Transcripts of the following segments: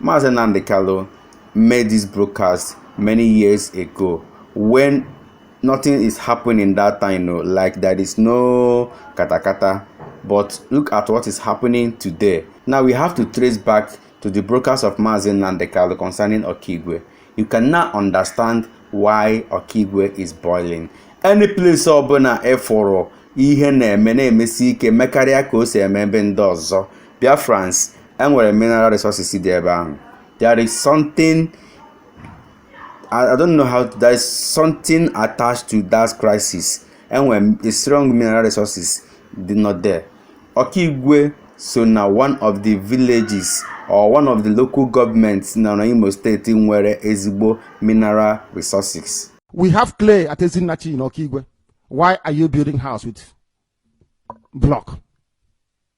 Mazi Nnamdi Kanu made this broadcast many years ago when nothing is happening that time, no, like there is no katakata. But look at what is happening today. Now we have to trace back to the broadcast of Mazi Nnamdi Kanu concerning Okigwe. You can now understand why Okigwe is boiling. Any place ọbụla ị fụrụ ihe na-eme na-emesi ike mekarịa ka o si eme ebe ndị ọzọ. Biafrans enwere mineral resources dị ebe ahụ there is something I, I don't know how there is something attached to that crisis enwere a strong mineral resources dị not there Ọkaigwe so na one of the villages or one of the local governments nọ na Imo steeti nwere ezigbo mineral resources we have clay at Ezinnachi in Ọkaigwe why are you building house with block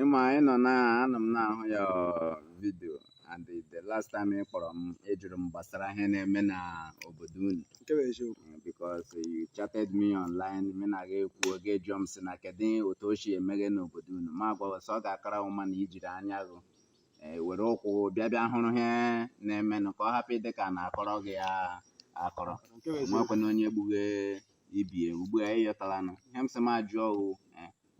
ịma you know na anọ m na-ahụ your video and the last time ị kpọrọ m ị jụrụ m gbasara ihe na-eme na obodo unu nke bụ eziokwu Eh, because you chatted me online mụ na gị ekwuo gị ajụọ m sị na kedu otu o si emeghe n'obodo unu m agwa gị sị ọ ga-akara mma na i jiri anya gị eh, were ụkwụ bịa bịa hụrụ ihe na-emenụ ka ọ hapụ ịdị ka a na-akọrọ gị ya akọrọ nke bụ eziokwu nwekwana onye gbughe ibie ugbu a ị yọtalanụ ihe m sị m ajụọ o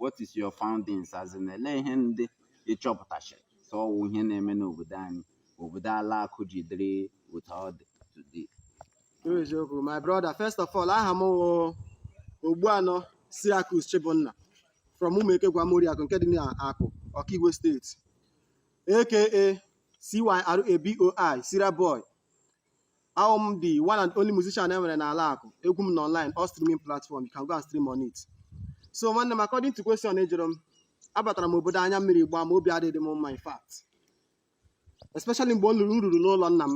what is your foundings as in elee ihe ndị ị chọpụtachara so ọ wụ ihe na-eme n'obodo anyị obodo ala Akụ ji dịrị otu ọ dị today True eziokwu my brother first of all aha m wụ Ogbuanọ Cyracus Chibunna from Ụmụeke Gwamoriakụ nke dị n'Akụ Okigwe State aka CYRABOI Cyra Boy Awụ m the one and only musician e nwere n'ala Akụ egwu m nọ online all streaming platform you can go and stream on it so nwanne m according to question ị jụrụ m abatara m obodo anya mmiri gbaa m obi adịghị m mma in fact especially mgbe m lụrụ m ruru n'ụlọ nna m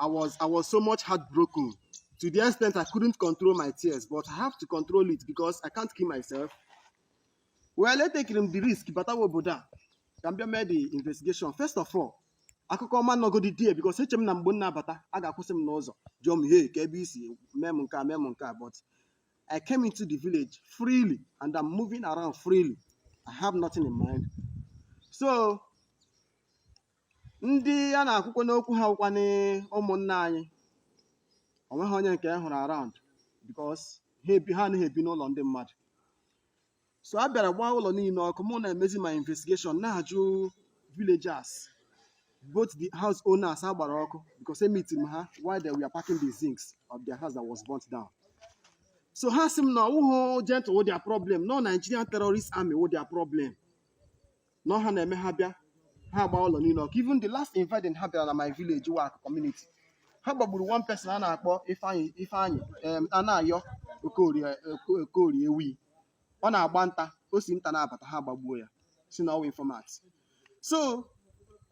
I was I was so much heartbroken to the extent I couldn't control my tears but I have to control it because I can't kill myself well etekiri m the risk batawa obodo a ka m bịa mee the investigation first of all akụkọ ọma nọgodi die because eche m na mgbe m na-abata a ga-akwụsị m n'ụzọ jụọ m hey kee ebe i si mee m nke a mee m nke a but I came into the village freely and I'm moving around freely I have nothing in mind so ndị a na-ekwukwanụ okwu ha wụkwanụ ụmụnna anyị onweghị onye nke m hụrụ around because ha ebi ha anaghị ebi n'ụlọ ndị mmadụ so a bịara gbaa ụlọ niile ọkụ mụ na-emezi my investigation na-ajụ villagers both the house owners a gbara ọkụ because emiti m ha while they were packing the zincs of their house that was burnt down so ha sị m na ọ wụhụ Gentle wụ their problem na ọ Nigerian terrorist army wụ their problem na ọ ha na-eme ha bịa ha agba ụlọ niile ọkụ even the last invading ha bịara na my village work community ha gbagburu one person a na-akpọ Ifeanyị Ifeanyị em, Anayọ Okorie Oko- Okorie Ewi ọ na-agba nta o si nta na-abata ha gbagbuo ya sị na ọ wụ informant so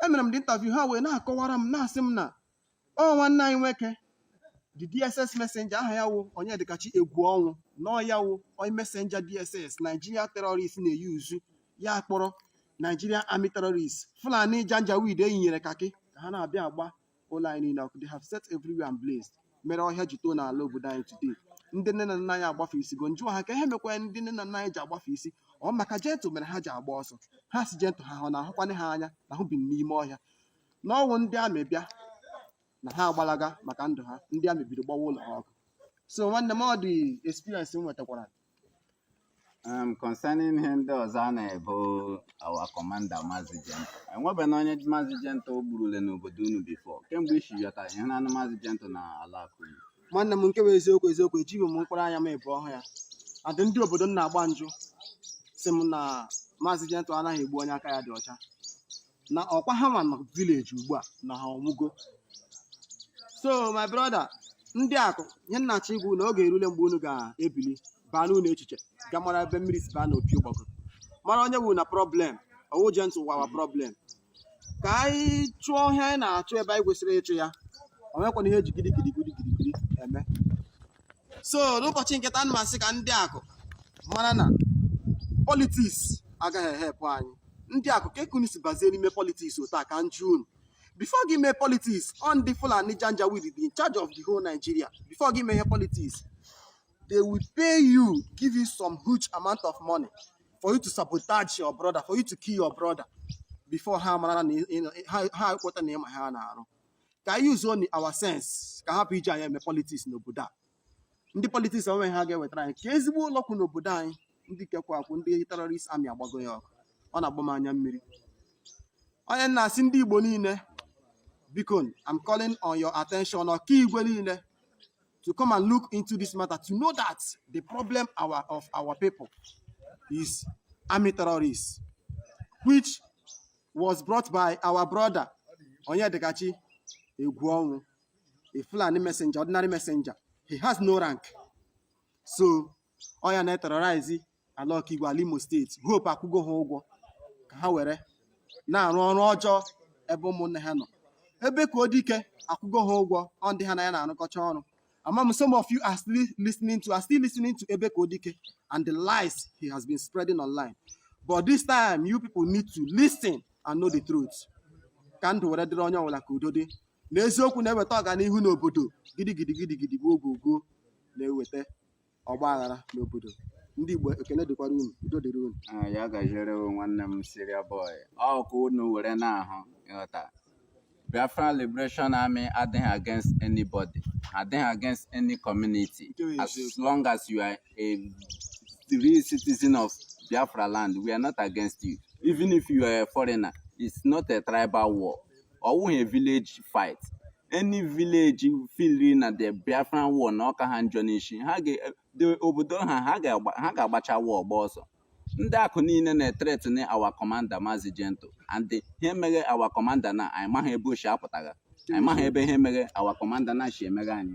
emere m the interview ha wee na-akọwara m na-asị m na ọ nwanne anyị nwoke the dss messenger aha ya wụ onyedikachi Egwuọnwụ na ọ ya wụ onye messenger dss nigeria terrorist na-eyuzu ya kpọrọ nigeria army terrorist fulani janjaweed eyinyere kakị ka ha na-abịa agba ụlọ anyị niile ọkụ they have set everywhere ablaze mere ọhịa ji too n'ala obodo anyị today ndị nne na nna anyị agbafe isi go njụọ ha ka ihe mekwa ndị nne na nna anyị ji agbafe isi ọ maka Gentle mere ha ji agba ọsọ ha sị Gentle ha ọ na-ahụkwanye ha anya na ahụ bi n'ime ọhịa na ọ wụ ndị army bịa na ha agbalaga maka ndụ ha ndị army bido gbawa ụlọ ha ọkụ so nwanne m ọ the experience m nwetakwara Um, concerning ihe ndị ọzọ a na-ebo our commander Mazi Gentle enwebeghị onye Mazi Gentle gburule n'obodo unu before kemgbe i si yọta ihe na-anụ Mazi Gentle na ala Akụ nwanne m nke bụ eziokwu eziokwu ejighị m mkpụrụ anya m abụọ hụ ya adị ndị obodo m na-agba njụ sị m na Mazi Gentle anaghị egbu onye aka ya dị ọcha na ọkwa ha nwa nọ village ugbu a na ha ọ nwụgo so my brother ndị Akụ ihe m na-achọ ikwu na oge erule mgbe unu ga-ebili baa n'ụlọ echiche ga mara ebe mmiri si baa n'opi ụgbọgụ mara onye wụrụ na problem ọ wụ Gentle wụ our problem ka anyị chụọ ihe anyị na-achụ ebe anyị kwesịrị ịchụ ya o nwekwana ihe e ji gidigidi gidigidi eme so n'ụbọchị nke taa ana m asị ka ndị Akụ mara na politics agaghị e-help anyị ndị Akụ kee ka unu si bazie n'ime politics otu a ka m jụọ unu before gị mee politics ọ ndị Fulani Janjaweed be in charge of the whole Nigeria before gị mee ihe politics they will pay you give you some huge amount of money for you to sabotage your brother for you to kill your brother before ha mara na ha ekweta na ị ma ihe na-arụ ka anyị use only our sense ka a hapụ iji anyị eme politics n'obodo a ndị politics o nwe ihe ha ga-ewetara anyị ka ezigbo ụlọ kwụ n'obodo anyị ndị ka kwụ akwụ ndị terrorist army agbago ya ọkụ ọ na-agba m anya mmiri ọ ya m na-asị ndị Igbo niile biko I'm calling on your attention Okigwe niile to come and look into this matter to know that the problem our, of our people is army terrorists which was brought by our brother Onyedikachi Egwuọnwụ, a Fulani messenger, ordinary messenger. He has no rank. So, ọ ya na-eterrorize ala Okigwe ala Imo State Hope akwụgo ha ụgwọ ka ha were na-arụ ọrụ ọjọọ ebe ụmụnne ha nọ Ebekuodike akwụgo ha ụgwọ ọ ndị ha na ya na-arụkọcha ọrụ A ma m some of you are still listening to are still listening to Ebekuodike and the lies he has been spreading online. But this time, you people need to listen and know the truth. Ka ndụ were dịrị onye ọbụla ka udo dị. Na eziokwu na-eweta ọganihu n'obodo gidigidi gidigidi gboo gboo gboo na-eweta ọgba aghara n'obodo ndị Igbo ekene dịkwara unu udo dịrị unu ah, ya gaziere nwanne m Syria Boy ọ ka unu were na-ahụ ịghọta Biafra Liberation Army adịghị against anybody adịghị against any community as long as you are a real citizen of Biafra land we are not against you even if you are a foreigner it's not a tribal war ọ wụghị village fight any village feel na the Biafran war na ọ ka ha njọ n'ishi obodo ha ha ga-agbacha wa ọgba ọsọ ndị Akụ niile na-ethreaten our commander Mazi Gentle and ihe meghe our commander na anyị maghị ebe o shi apụtagha anyị maghị ebe ihe meghe our commander na shi emeghe anyị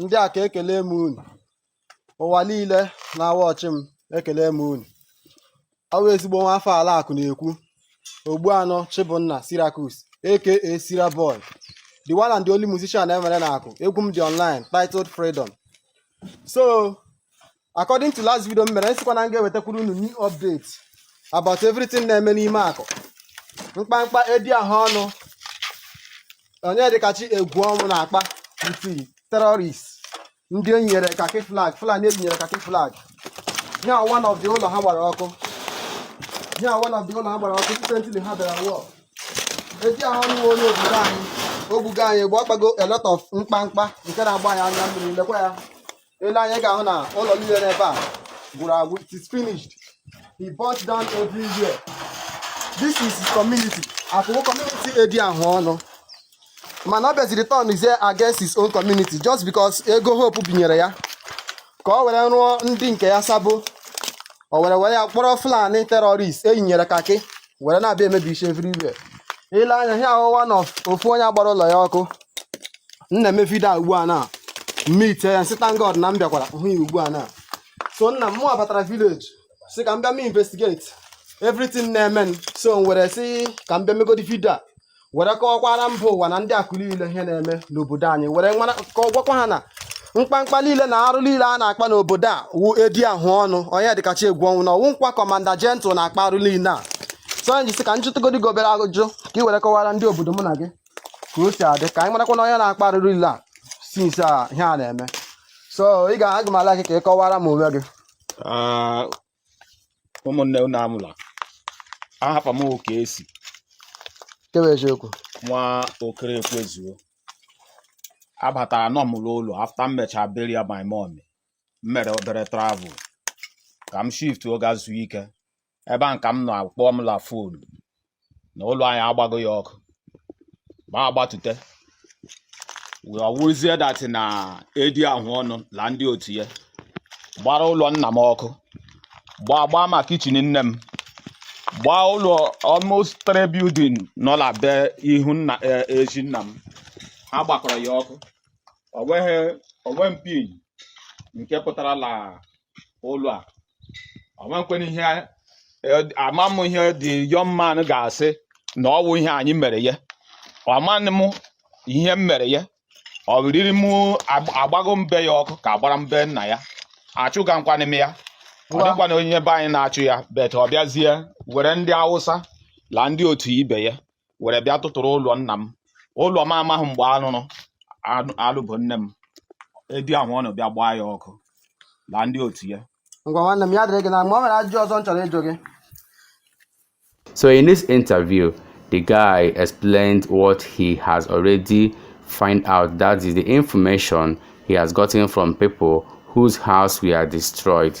ndị a ka ekele m unu ụwa niile na-awatch m ekele m unu ọ wụ ezigbo nwa afọ ala Akụ na-ekwu Ogbuanụ Chibunna Cyriacus aka Syria Boy the one and the only musician e nwere na Akụ egwu m dị online titled freedom so according to last video m mere m sịkwa na m ga-ewetakwuru unu new update about everything na-eme n'ime Akụ mkpamkpa edi ahụ ọnụ Onyedikachi Egwuọnwụ na-akpa with terrorist ndị e nyere kaki flag Fulani e yinyere kaki flag ya one of the ụlọ ha gbara ọkụ ya one of the ụlọ ha gbara ọkụ recently ha bịara war edi ahụ ọnụ wụ onye obodo anyị o gbugo anyị bụ ọ kpago a lot of mkpamkpa nke na-agba anyị anya mmiri lekwa ya i lee anya ị ga-ahụ na ụlọ niile n'ebe a gwụrụ agwụ it is finished he burnt down everywhere this is his community Akụ wụ community edi ahụ ọnụ mana ọ bịaziri turn is against his own community just because ego Hope binyere ya ka ọ were rụọ ndị nke ya sabo o were were ya kpọrọ Fulani terrorist e yinyere kaki were na-abịa emebisi everywhere i lee anya ihe a wụ one of onye a gbara ụlọ ya ọkụ m na-eme video a ugbu a na m meet ya m sị thank God na m bịakwara hụ ya ugbu a na so nna m mụwa batara village sị ka m bịa m investigate everything na-eme so m were sị ka m bịa megodi video a were kọwakwara mba ụwa na ndị Akụ niile ihe na-eme n'obodo anyị were gwakwa ha na mkpamkpa niile na arụ niile a na-akpa n'obodo a wụ edi ahụ ọnụ Onyedikachi Egwuọnwụ na ọ wụghịkwa commander Gentle na-akpa arụ niile a so m ji sị ka m jụtụgodi gị obere ajụjụ ka ị were kọwara ndị obodo mụ na gị ka o si adị ka anyị marakwa na onye na-akpa arụ niile a since a ihe a na-eme so ị ga-agwa m aha gị ka ị kọwara m onwe gị ah, ụmụnne unu anwụla aha m oke esi kewe eziokwu nwa okere ekwezuo abatara nọ m n'ụlọ after m mechaa burial my mom m mere obere travel ka m shift gaa zuo ike ebe a ka m nọ a kpọọ m la phone na ụlọ anyị agbago ya ọkụ ma agbatute wee ọ wụrụzie that na Edi Ahụọnụ la ndị otu ya gbara ụlọ nna m ọkụ gbaa gbaa ma kitchen nne m gbaa ụlọ almost three building nọ la be ihu nna e- ezi nna m ha gbakọrọ ya ọkụ o nweghị one pin nke pụtara la ụlọ a ọmakwena ihe ama m ihe the young man ga-asị na ọ wụ ihe anyị mere ya amanị m ihe m mere ya ọ riri m agbago mbe ya ọkụ ka agbara mbe nna ya achụgakwanị m ya ọ dịkwana onye be anyị na-achụ ya but ọ bịazie were ndị Awụsa la ndị otu ibe ya were bịa tụtụrụ ụlọ nna m ụlọ m amaghị mgbe arụrụ alụbu nne m Edi Ahụọnụ bịa gbaa ya ọkụ la ndị otu ya ngwa nwanne m ya dịrị gị na mma o nwere ajụjụ ọzọ m chọrọ ịjụ gị So in this interview, the guy explained what he has already find out that is the information he has gotten from people whose house were destroyed.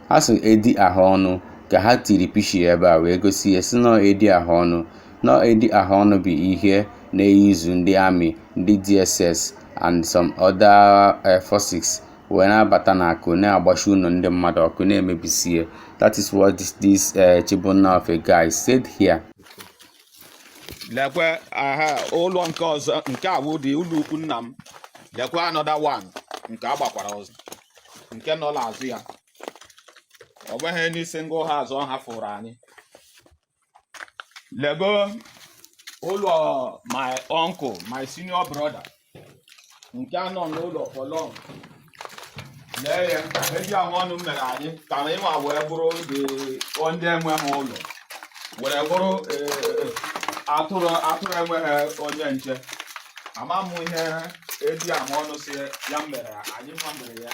ha sị Edi Ahụọnụ ka ha tiri picture ebe a wee gosi ya sị n'ọ Edi Ahụọnụ n'ọ Edi Ahụọnụ bụ onye na-e-use ndị army ndị DSS and some other eh, forces wee na-abata n'Akụ na-agbashi ụlọ ndị mmadụ ọkụ na-emebisie that is what this, this uh, Chibunna of a guy said here lekwe aha ụlọ nke ọzọ nke a wụ the ụlọ ukwu nna m lekwe another one nke agbakwara ọzọ nke nọ n'azụ ya o nweghị any single house ọ hafụrụ anyị lego ụlọ my uncle my senior brother nke anọ n'ụlọ for long lee ihe Edi Ahụọnụ mere anyị ka anyị nwa wee bụrụ ndị ndị enweghị ụlọ were bụrụ eh, atụrụ atụrụ enweghị onye nche ama m ihe Edi Ahụọnụ sị ya mere anyị nwa mere ya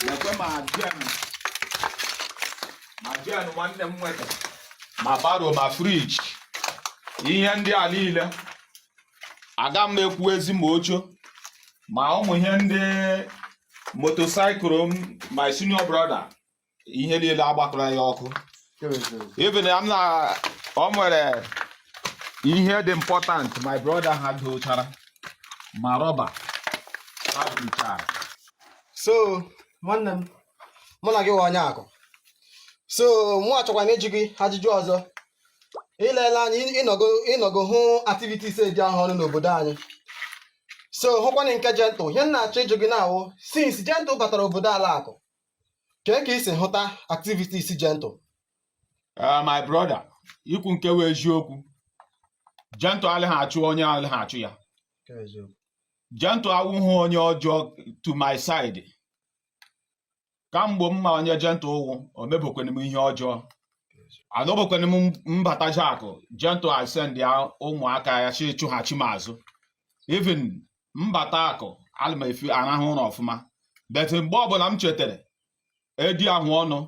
lekwe ma gen ma gen nwanne m nwoke ma barrow ma fridge ihe ndị a niile aga m ekwuzi ma oche ma ụmụ ihe ndị motorcycle m my senior brother ihe niile agbakọrọ ya ọkụ even m na o nwere ihe dị important my brother ha dochara ma rọba ha dochara so nwanne m mụ na gị wụ onye Akụ so mụ achọkwa na ịjụ gị ajụjụ ọzọ ilele anyị ị nọgo hụ activities edi ahụ ọnụ n'obodo anyị so hụkwanị nke Gentle ihe m na-achọ ịjụ gị na-awụ since Gentle batara obodo ala Akụ kee ka i si hụta activities Gentle Eh, my brother ikwu nke wụ eziokwu Gentle alịghị achụ onye alịghị achụ ya Gentle awụghị onye ọjọọ to my side ka mgbe m ma onye Gentle wụ o mebekwana m ihe ọjọọ anọbekwana m m bataja Akụ Gentle esendia ụmụaka ya sị chụghachi m azụ even m bata Akụ ana m efi arahụ ụra ọfụma but mgbe ọbụla m chetara edi ahụ ọnụ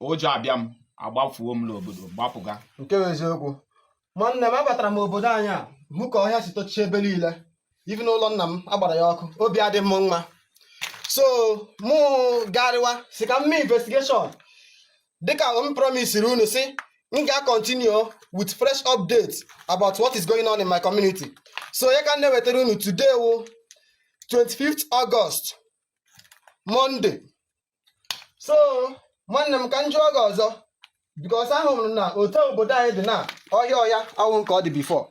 ụjọ abịa m agbafuo m n'obodo gbapụga nke wụ eziokwu nwanne m abatara m obodo anyị a hụ ka ọhịa si tochie ebe niile even ụlọ nna m agbara ya ọkụ obi adị m mma so mụ garịwa sị ka m mee investigation dịka m promisiri unu sị m ga-continue with fresh updates about what is going on in my community so ya ka m na-ewetara unu today wụ 25th August Monday so nwanne m ka m jụọ gị ọzọ because ahụrụ m na otu obodo anyị dị na ọhịa ọhịa awụ nke ọ dị before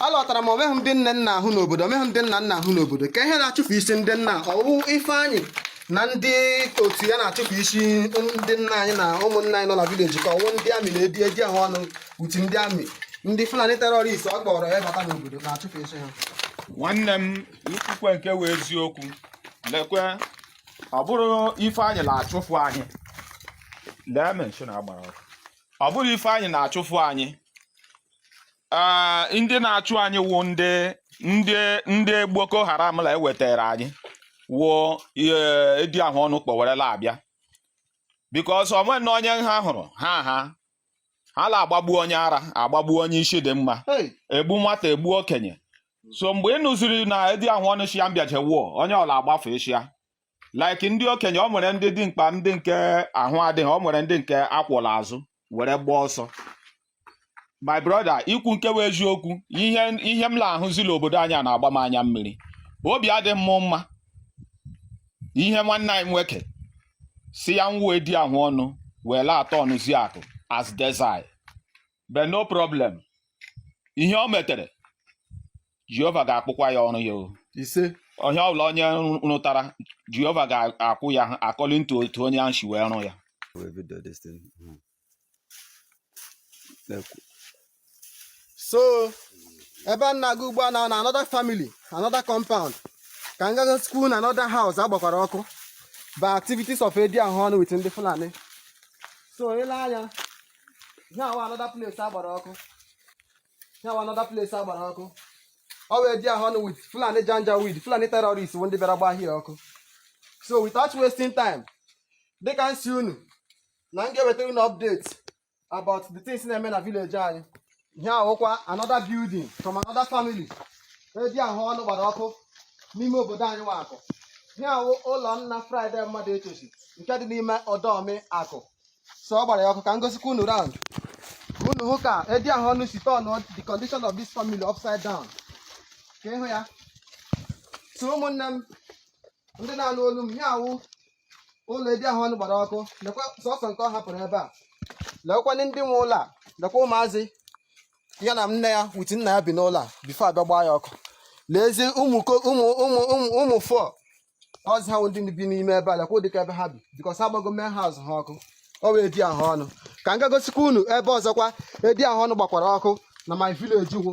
alọtara m o nweghị ndị nne m na-ahụ n'obodo o nweghị ndị nna m na-ahụ n'obodo kee ihe na-achụfu isi ndị nna ọ wụ Ifeanyị na ndị otu ya na-achụfu isi ndị nna anyị na ụmụnna anyị nọ na village ka ọ wụ ndị army na edi ahụ ọnụ otu ndị army ndị Fulani terrorist ọ kpọrọ ya bata n'obodo na-achụfu isi ha nwanne m ikwukwe nke wụ eziokwu lekwe ọ bụrụ Ifeanyị na-achụfụ anyị lee mansion a gbara ọkụ ọ bụrụ Ifeanyị na-achụfụ anyị ee ndị na-achụ anyị wụ ndị ndị ndị Boko Haram la ewetara anyị wụ edi ahụ ọnụ kpọ were la abịa because o nwena onye ha hụrụ ha ha ha la agbagbu onye ara agbagbu onye isi dị mma Hey. egbu nwata egbu okenye so mgbe ị nụziri na edi ahụ ọnụ shị ya mbịaje woo onye ọla agbafu ishi ya like ndị okenye o nwere ndị dị mkpa ndị nke ahụ adịghị o nwere ndị nke a kwọ la azụ were gbaa ọsọ my brother ikwu nke wụ eziokwu ihe ihe m na-ahụzi la obodo anyị a na-agba m anya mmiri obi adị m mma ihe nwanne anyị nwoke sị ya wụ edi ahụ ọnụ wee la aturnụzi Akụ as desert but no problem ihe o metere Jehova ga-akwụkwa ya ọrụ ya o ise ihe ọbụla onye rụ- rụtara Jehova ga-akwụ ya according to otu onye ahụ si wee rụ ya Every day this thing. Mhm. so ebe m na-aga ugbu a na na another family another compound ka m gagosikwa unu another house agbakwara ọkụ by activities of edi ahụ ọnụ with ndị fulani so i lee anya ihe awụ another place agbara ọkụ ihe awụ another place agbara ọkụ ọ wụ edi ahụ ọnụ with fulani janjaweed fulani terrorist bụ ndị bịara gbaa ahịa ọkụ so without wasting time dịka m sị unu na m ga-ewetara unu update about the things na-eme na village anyị ihe awụkwa another building from another family edi ahụ ọnụ gbara ọkụ n'ime obodo anyị wụ Akụ ihe awụ ụlọ nna Friday mmadụ echochi nke dị n'ime ọdọmi akụ so ọ gbara ya ọkụ ka m gosikwa unu round ka unu hụ ka edi ahụ ọnụ si turn the condition of this family upside down ka ịhụ ya so ụmụnne m ndị na-anụ olu m ihe awụ ụlọ edi ahụ ọnụ gbara ọkụ lekwa sọsọ nke ọ hapụrụ ebe a lekwanị ndị nwe ụlọ a lekwa ụmụazị ya na nne ya with nna ya bi n'ụlọ a before a bịa gbaa ya ọkụ leezi ụmụ ko- ụmụ ụmụ ụmụ ụmụ fọ ọzi ha wụ ndị bi n'ime ebe a lekwa ụdịka ebe ha bi because ha gbago main house ha ọkụ ọ wụ edi ahụ ọnụ ka m ga gosikwa unu ebe ọzọkwa edi ahụ ọnụ gbakwara ọkụ na my village wụ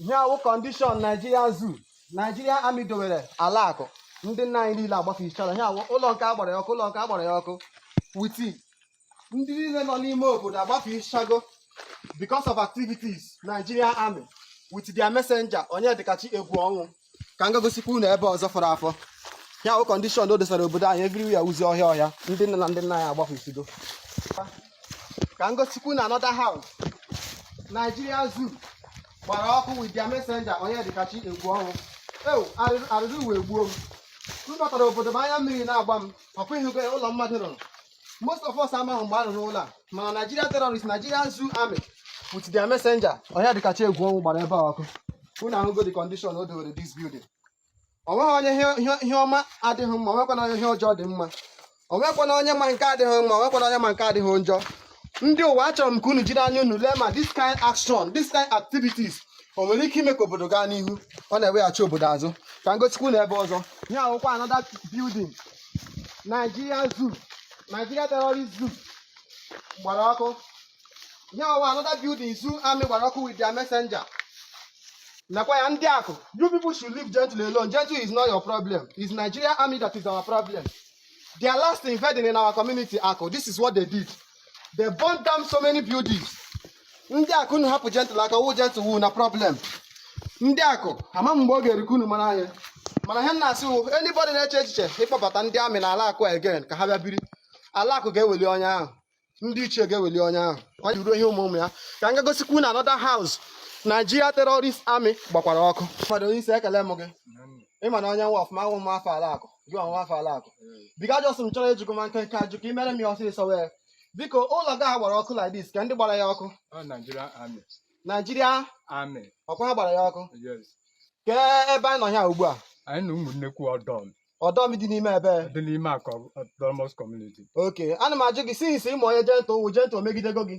ihe awụ condition Nigeria zoo Nigerian army dowere ala akụ ndị nna anyị niile agbafesichara ihe awụ ụlọ nke agbara ya ọkụ ụlọ nke agbara ya ọkụ with ndị niile nọ n'ime obodo agbafesichago because of activities Nigerian army with their messenger Onyedikachi egwu ọnwụ ka m gagosikwa unu ebe ọzọ fọrọ afọ ihe awụ condition o dosara obodo anyị everywhere wuzi ọhịa ọhịa ndị nne na ndị nna anyị agbafesido ka m gosikwa unu another house Nigeria Zoo gbara ọkụ with their messenger Onyedikachi egwu ọnwụ ewoo arịrị ụwa egbuo m m batara obodo m anya mmiri na-agba m ọkwa ịhụgo ya ụlọ mmadụ rụrụ most of us amaghị mgbe a rụrụ ụlọ a mana Nigeria terrorist Nigerian zoo army with their messenger Onyedikachi egwu ọnwụ gbara ebe a ọkụ unu ahụgo the condition o dowere this building onweghị onye ihe- ihe- ihe ọma adịghị mma onwekwana onye ihe ọjọọ dị mma onwekwana onye ma nke adịghị mma onwekwana onye ma nke adịghị njọ ndị ụwa achọrọ m ka unu jiri anya unu lee ma this kind action this kind activities o nwere ike ime ka obodo gaa n'ihu ọ na-eweghachi obodo azụ ka m gosikwa unu ebe ọzọ ihe awụkwa another building Nigeria Zoo Nigeria Terrorist Zoo gbara ọkụ ihe awụ another building zoo army gbara ọkụ with their messenger nakwa ya ndị akụ you people should leave Gentle alone Gentle is not your problem it's Nigeria army that is our problem their last invading in our community akụ this is what they did they burn down so many buildings ndị akụ unu hapụ gentle aka wụ gentle wụ na problem ndị akụ ama m mgbe ọ ga-erikọ unu mara anya mana ihe m na-asị wụ anybody na-eche echiche ịkpọbata ndị amị n'ala akụ again ka ha bịa biri ala akụ ga-eweli onye ahụ ndị ichie ga-eweli onye ahụ ọ ji ruo ihe ụmụ ụmụ ya ka m gagosikwa unu another house Nigeria terrorist army gbakwara ọkụ mmadụ onye isi ekele m gị ị mara onye nwa ọfụma awụ m afọ ala akụ gị ọ nwa afọ ala akụ biko jọs m chọrọ ịjụ gị ma nkenke ajụjụ ka ị mere m ya ọsịsọ wee biko ụlọ gị a gbara ọkụ like this kee ndị gbara ya ọkụ Ọ Nigeria Army. naijiria Army. ọ kwa ha gbara ya ọkụ Yes. kee ebe anyị nọ ya ugbu a Anyị nọ ụmụnnekwu ọdọm ọdọm dị n'ime ebe dị n'ime akụ Autonomous community. okay ana m ajụ gị since ị ma onye jentụ wụ jentụ o megidego gị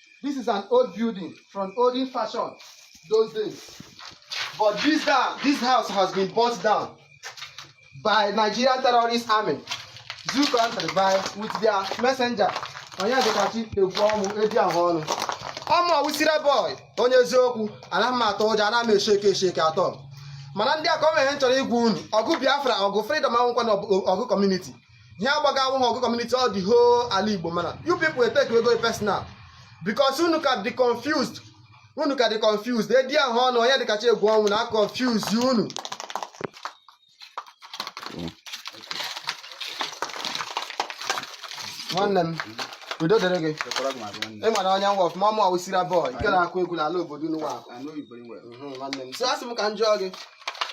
This is an old building from olden fashion those days. But this down, this house has been burnt down by Nigerian terrorist army, zoo country by with their messenger. Onyedikachi Egwuọnwụ edi ahụ ọnụ. Ọ mụ ọwụsira boy onye eziokwu anaghị m atọ ụjọ anaghị m esheke esheke at all. Mana ndị akụ ọ nwere ihe m chọrọ ịgwa unu ọgụ Biafra ọgụ freedom awụkwanụ ọgụ community. ihe a gbaga awụghị ọgụ kọmuniti all the whole ala igbo mana you people etekego personal because unu ka dị confused unu ka dị confused edi ahụ ọnụ onyedikachi egwuọnwụ na-confuse unu nwanne m udo dịrị gị ị mara onye nwa ọfụma ọ mụ ọwụsira boy nke na-akụ egwu n'ala obodo unu nwa nwanne m so asị m ka m jụọ gị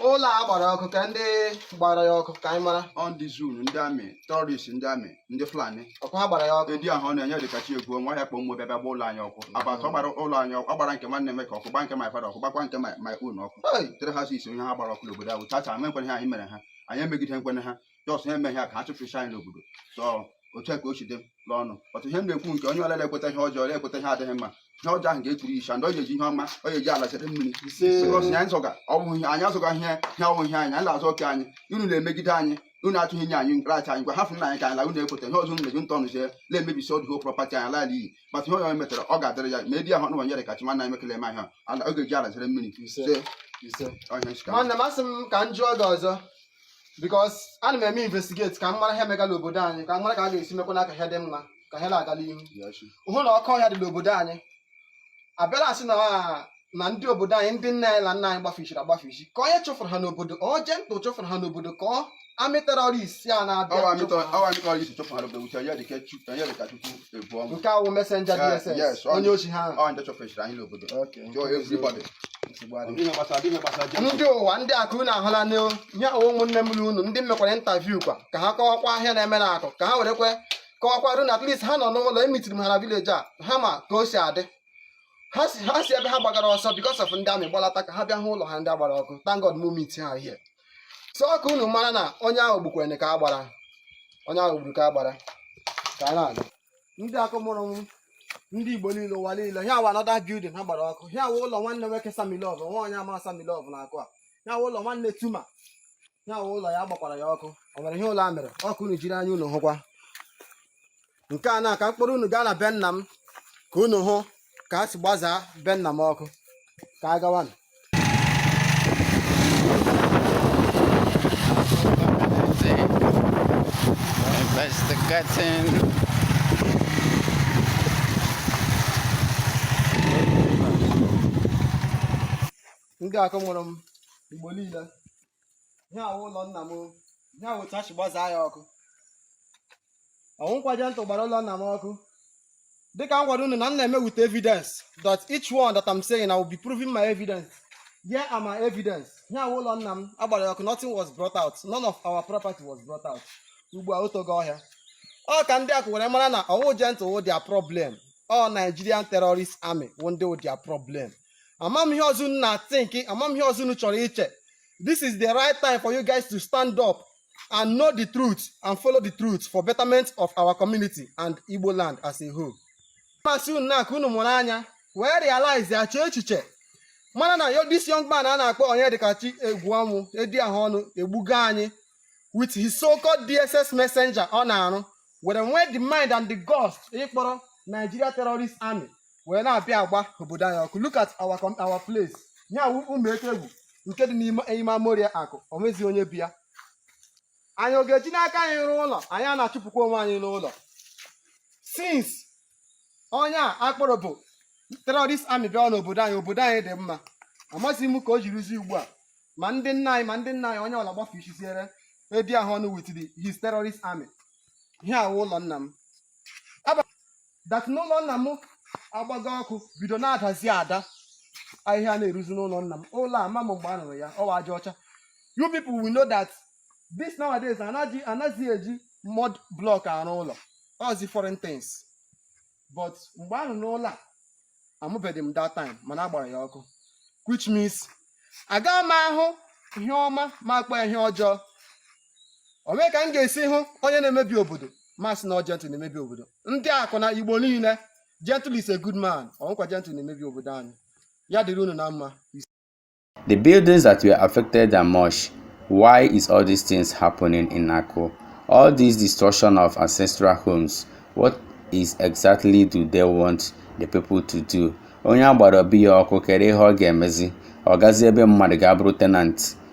ụlọ a gbara ọkụ kee ndị gbara ya ọkụ ka anyị mara ọ ndị zoo ndị amị terọrist ndị amị ndị fulani ọ kwa ha gbara ya ọkụ edi ahụ ọnụ onyedikachi egwuọnwụ ya kpọ amị bịa bịa gba ụlọ anyị ọkụ agbata ọ gbara ụlọ anyị ọkụ ọ gbara nke nwanne m ka ọkụ gba nke my father ọkụ gbakwa nke my my own ọkụ Hey! three houses na ha gbara ọkụ n'obodo ahụ tata amakwanụ ihe anyị mere ha anyị emegidekwanụ ha jọs ha emega ka ha chụpụcha anyị n'obodo so otu ka o si dị n'ọnụ ọtụ ihe m na-ekwu nke onye ọlele ekweta ihe ọjọọ ekweta ihe adịghị mma ihe ọjọọ ahụ ga-eturu icha ndị ọ ga-eji ihe ọma ọ ga-eji ala chere mmiri anyị azọga anyị azọga ihe ihe ọ wụ ihe anyị anyị na-azọ oke anyị unu na-emegide anyị unu atụghị nye anyị nracha anyị ngwa hafụ nụ anyị ka anyị la unu ekweta ihe ọzọ unu na jentụ nọzie na-emebisi all the whole prọpati anyị ala iyi mata ihe onye metara ọ ga-adịrị ya ma edi ahụ ọnụ onyedikachi nwanne anyị mekele eme ahịa ala ọ ga-eji ala chere mmiri nwanne m asị m ka m jụọ gị ọzọ because ana m eme investigate ka m mara ihe megala obodo anyị ka m mara ka a ga-esi mekwanụ ka ihe dị mma ka ihe na-agala ihu hụ na oke ọhịa dị n'obodo anyị abịala asị na na ndị obodo anyị ndị nne anyị na nna anyị gbafichiri agbafichi kee onye chụfụrụ ha n'obodo ọ jentụ chụfụrụ ha n'obodo ka ọ amị terọrist a na-abịa ebu ọnụ nke a wụ messenger Eh, dss yes, ọ- onye ochi ha ahụ. ọ ndị chụfechiri anyị n'obodo Okay. Yo, everybody. Nsogbu adịghị. Ihe gbasara ihe gbasara Jeko. ndị ụwa ndị akụ unu ahụla nụ ihe a wụ ụmụnne m na unu ndị mekwara interview kwa ka ha kọwakwa ihe a na-eme na akụ ka ha werekwe kọwakwara unu at least ha nọ n'ụlọ emitiri m ha na village a ha ma ka o si adị ha si ha si ebe ha gbagara ọsọ because of ndị army gbalata ka ha bịa hụ ụlọ ha ndị a gbara ọkụ thank God m meet ha here so ọ ka unu mara na onye ahụ gbukwere ka a gbara onye ahụ gburu ka a gbara ka a na-aga ndị akụ mụrụ m ndị igbo niile ụwa niile ihe a wụ another building ha gbara ọkụ ihe a wụ ụlọ nwanne nwoke samilov nwa onye a ma samilov na akụ a ihe a wụ ụlọ nwanne Tuma ihe a wụ ụlọ ya gbakwara ya ọkụ o nwere ihe ụlọ a mere ọ ka unu jiri anya unu hụkwa nke a na ka m kpọrọ unu gaa na be nna m ka unu hụ ka a si gbazaa be nna m ọkụ ka a gawanụ investigating ndị akụ mụrụ m igbo niile ihe a wụ ụlọ nna m ihe a wụ otu a si gbazaa ya ọkụ ọ wụghịkwa Gentle gbara ụlọ nna m ọkụ dịka m gwara unu na m na-eme with evidence that each one that I'm saying I will be proving my evidence here are my evidence ihe a wụ ụlọ nna m a gbara ya ọkụ nothing was brought out none of our property was brought out ugbu a o togo ọhịa ọ ka ndị akụ were mara na ọ wụghị Gentle wụ their problem ọ Nigerian terrorist army wụ ndị wụ their problem amam ihe ọzọ unu na-think amam ihe ọzọ unu chọrọ iche this is the right time for you guys to stand up and know the truth and follow the truth for betterment of our community and Igbo land as a whole. m sị unu na akụ unu mụrụ anya wee realize ya chee echiche mara na this young man a na-akpọ Onyedikachi Egwuọnwụ edi ahụ ọnụ egbugo anyị with his so-called DSS messenger ọ na-arụ were nwee the mind and the guts ịkpọrọ Nigeria Terrorist Army wee na-abịa agba obodo anyị ọkụ look at our com- our place ihe a wụ ụmụ eke egwu nke dị n'ime ime amoria akụ o nweghịzi onye bi ya anyị ọ ga-eji n'aka anyị rụọ ụlọ anyị a na-achụpụkwa onwe anyị n'ụlọ since onye a akpọrọ bụ terrorist army bịa n'obodo anyị obodo anyị dị mma amaghịzi m ka o jirizi ugbu a ma ndị nna anyị ma ndị nna anyị onye ọla gbafuo isiziere edi ahụ ọnụ with the his terrorist army ihe a wụ ụlọ nna m that na ụlọ nna m agbago ọkụ bido na-adazi ada ahịhịa na-eruzi n'ụlọ nna m ụlọ a amam mgbe a rụrụ ya ọ wụ aja ọcha you people will know that this nowadays anaghịzi eji mud block arụ ụlọ ọ zi foreign things but mgbe a rụrụ ụlọ a amụbeghị m that time mana a gbara ya ọkụ which means agaghị m ahụ ihe ọma m akpọ ya ihe ọjọọ o nwe ka m ga-esi hụ onye na-emebi obodo m asị na ọ gentle na-emebi obodo ndị akụ na igbo niile gentle is a good man ọ wụkwa gentle na-emebi obodo anyị ya dịrị unu na mma The buildings that were affected are much. Why is all these things happening in Akụ? All this destruction of ancestral homes, what exactly do they want the people to do? Onye a gbara obi ya ọkụ kedụ ihe ọ ga-emezi, ọ gazi ebe mmadụ ga-abụrụ tenant